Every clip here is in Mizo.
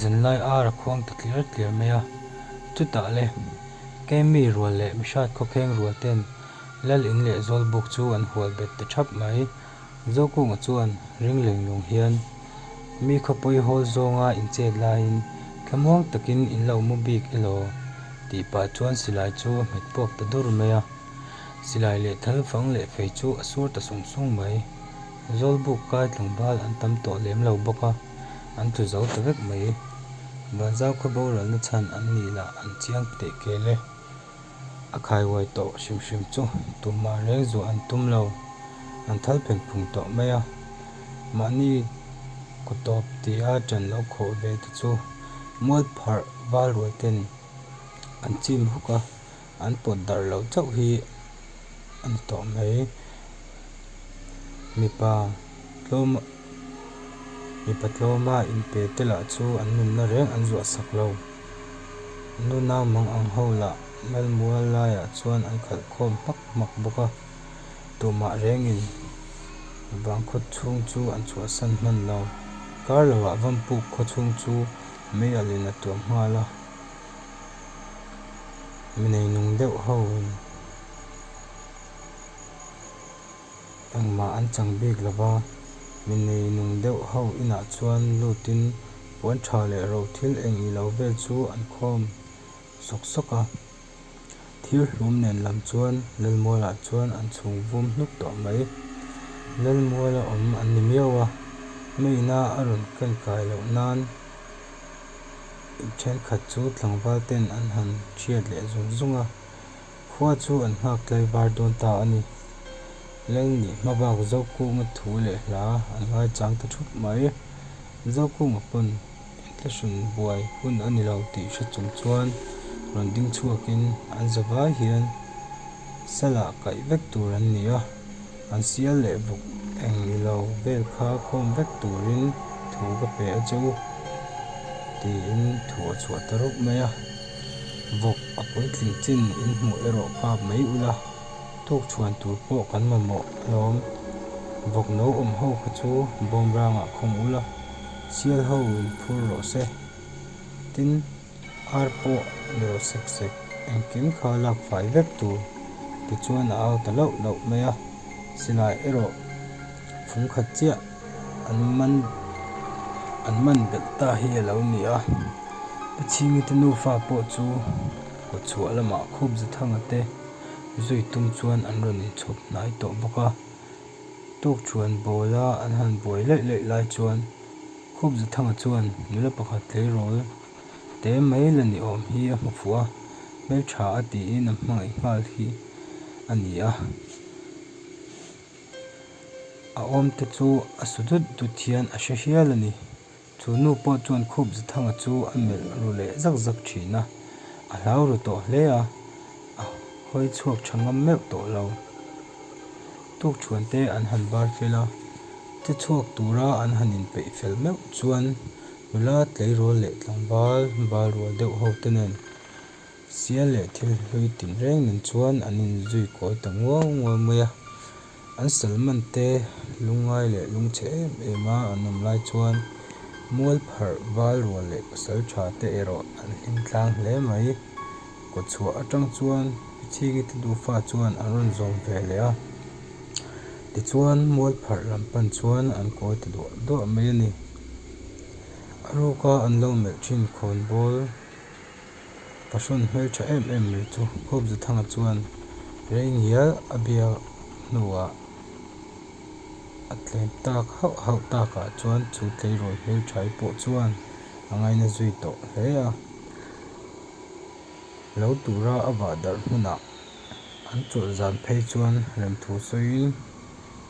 Zanlai ar a khuang ta tliar tliar mai a, chutah le kei mi rual leh mihrat khawkheng rual ten Lal in leh Zawl buk chu an hual bet ta thap mai. Zokung ah chuan ring lenglawng hian mi khawpui hawl zawnga inchet laiin thlamuang takin in lo mu bik elaw tih pah chuan silai chu a hmet puak ta dur mai a. Silai leh thal fang leh fei chu a sur ta sung sung mai. Zawlbuk kai tlangbal an tam tawh lem lo bawk a, an tlu zo ta vek mai. Vanzau khaw borualna chhan an nih lah an chiang teh kel e. A khai uai tawh hrim hrim chu tumah reng zuah an tum lo, an thal phen phung tawh mai a. Mahni ku tawp tia ṭan lo khawh ve te chu mualpharh valruaite nen an chim huk a. An pawt darh lo chauh hi a ni tawh mai. Mipa tlawma mipa tlawma in pe te lah chu an nunna reng an zuah sak lo. Nuna mang ang ho lah Malmual laiah chuan an khalh khawm hmak hmak bawk a. Tumah rengin vang khawt chhung chu an chhuah san hman lo. Kar lohah vampuk khaw chhung chu mei alin a tuam nghal a. mi nei nung deuh ho in engmah an chang bik lo va, mi nei nung deuh ho inah chuan lut in puan tha leh roh thil eng ih loh vel chu an khawm sawk sawk a, thir hlum nen lam chuan Lalmual ah chuan an chhung vum hnup tawh mai, Lalmual a awm a ni miau a, mei na a rawn kan kai loh nan. Thenkhat chu tlangval ten an han thiat leh zung zung a, khua chu an nghak tlaivar dawn ta a ni. Leng nih hma bak Zokuma thu leh hla an ngaichang ta thup mai. Zokuma pawn Entlishun buai hun a ni lo tih hre chung chuan rawn ding chhuak in an zavai hian Sala kaih vek tur an ni a. An sial leh bawk eng ni lo, bel kha khawm vek turin thu ka pe a che u tiin thu a chhuah ta rawk mai a, vawk a puitling chin in hmuh erawh kap mai ula, tukchhuan tur pawh kan mamawh alawm, vawk no awm ho kha chu bawmrangah khawm ula, sial ho in phur rawh se tin. Ar pawh ni rawh sek sek, engkim kha lak fai vek tur ti chuan a au ta loh loh mai a, silai erawh fung khat chiah an man an man belh ta hi a lo ni a, i chhingi te nufa pawh chu khaw chhuah lamah khup za thanga te zui tum chuan an rawn inchhawp hnai tawh bawk a, tawkthuan bawla an han buai laih laih lai chuan. Khup Zathanga chuan nula pakhat tleirawl te mai la ni awm hi a hmu fuh a, Hmeltha a tiin a hmangaih nghal hi a ni a, a awmte chu a su dut dut hian a hre hial a ni. Chu nu pawh chuan Khup Zathanga chu a melh ru leh zak zak thin a, a hlau ru tawh hle a, a hawi chhuak tha ngam meuh tawh lo. Tukṭhuante an han bar fel a, che chhuak tura an han inpeih fel meuh chuan nula tleirawl leh tlangval bal rual deuh hote nen sial leh thil hlui tin reng nen chuan an inzui kawi ta ngual ngual mai a. An salmante lungngai leh lungchhe em em a an awm lai chuan mualpharh val rual leh pasalṭhate erawh an hlimtlang hle mai. Kaw chhuah atang chuan i chhing i ti duhfa chuan an rawn zawm ve leh a. Tichuan mualpharh lam pan chuan an kawi ta duah duah mai a ni. A ruka an lo melh thin khawn bawl pahrawn hmeltha em em mai chu Khawpzathanga chuan rei ngial a bia hnuah a tlem tak hauh hauh takah chuan chu tleirawl hmelthai pawh chuan a ngaina zui tawh hle a. Lo tura a vah darh hmunah an chawlh zan phei chuan remthu sawiin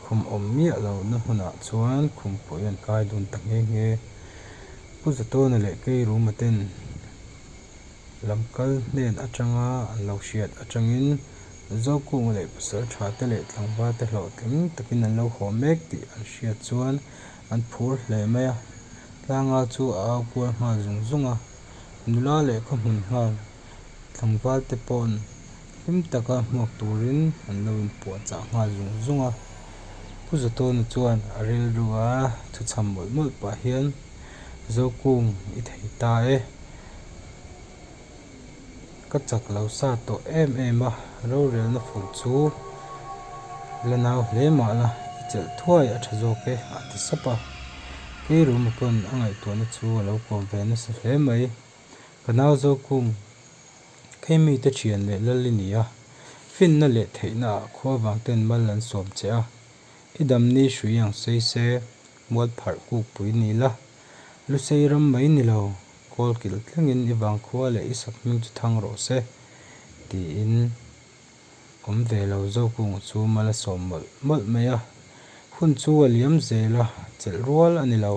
khum awm miah lo na hmunah chuan khum pawh i rawn kai dun ta nghe nghe. Pu Zatawna leh Keiruma ten lam kal hnen atanga an lo hriat atangin Zokunga leh Pasaltha te leh Tlangva te hlawh tling takin an lo haw mek tih an hriat chuan an phur hle mai a. Tlangau chu a au kual nghal zung zung a. nula leh ka hmun nghal tlangval te paw'n hlim taka hmuak turin an lo inpuah chah nghal zung zung a. Pu Zawtawna chuan a rilru a, thu chham mawlh mawlh pah hian, Zokung i thei ta e. Ka chak lo sa tawh em em a, rorelna fur chu la nau hle mah la, i chelh thuai a tha zawk e, a ti sap a. Kei ruma pawn a ngaihtuahna chu a lo kawm ve nasa hle mai. Ka nau zawk kung kei mite thian leh lal i ni a, finna leh theihna ah khua vang ten mal an sawm che a. I dam ni hrui ang sei se, mual pharh kuk pui ni la, lu sei ram mai ni lo. Kawl kilh tlingin i vangkhua leh i sak hming chu thang rawh se, tiin awm ve lo Zokung chu mal a sawm mawlh mawlh mai a. Hun chu a liam zel a, chelh rual a ni lo.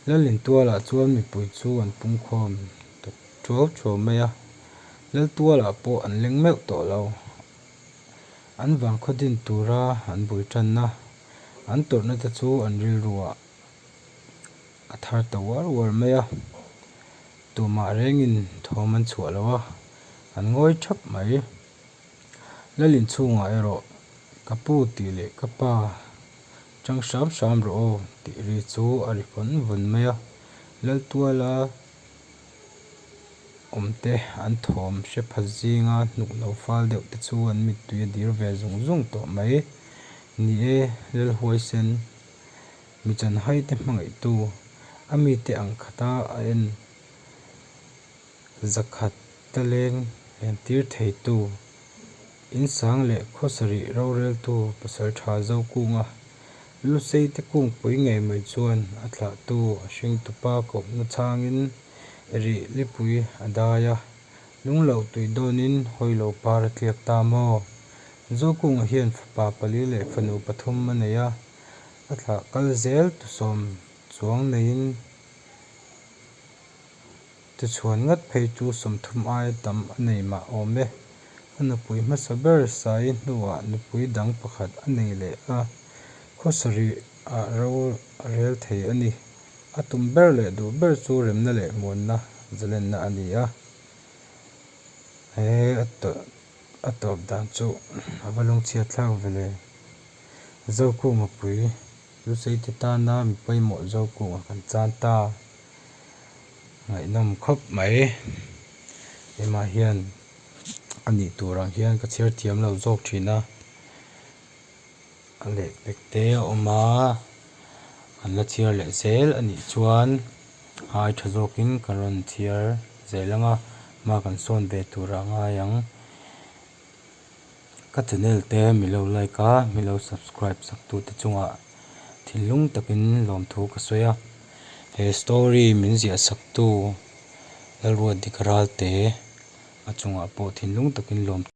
Lalintualah chuan mipui chu an pungkhawm ta ṭhuau ṭhuau mai a, Laltualah pawh an leng meuh tawh lo. An vangkhaw din tura an bul ṭanna, an tawrhnate chu an rilru a. A thar ta uar uar mai a, tumah rengin thawm an chhuah lo a, an ngawi thap mai. Lal inchhungah erawh ka pu tih leh ka pa chang hram hram rawh aw tih ri chu a ri vawn vawn mai a, Laltuala awmte an thawm hre phat zinga hnuk lo fal deuh te chu an mittui a dir ve zung zung tawh mai. Ni e, Lalhuaisen. Mi chanhaite hmangaihtu a mite ang khata a en zakhat taleng entir theitu, insang leh khawsarih roreltu pasaltha zo kunga luseite kungpui ngei mai chuan a thlahtu a hring tupa kawmna changin rih lipui a dai a, lung loh tuih dawnin hawi lo par a tliak ta maw? Zo kunga hian fapa pali leh fanu pathum a nei a, A thlah kal zel tu sawm chuang neiin ti chhuan ngat phei chu sawmthum aia tam a nei mah awm e. A nupui hmasa ber Sai hnuah nupui dang pakhat a nei leh a, khaw sarih a ro rel thei a ni. A tum ber leh duh ber chu remna leh hmuanna zalenna a ni a. He a tawlh. a tawp dan chu a va lung chhiat thlak vele. Zoku mapui, Lusei te tana mi pawimawh Zoku ah kan chan ta, ngaihnawm khawp mai. Kemah hian a nih tur ang hian ka chhiar thiam lo zawk thin a. A lek pek te a awm a, kan la chhiar leh zel a nih chuan ai tha zawkin kan rawn chhiar zel ang a, ma kan sawn ve tur a ngai ang. Ka channel te mi lo like a, mi lo subscribe sak tu te chungah thinlung takin lawmthu ka sawi a, he story min ziah sak tu Lalruatdika Ralte a chungah pawh thinlung takin lawmthu.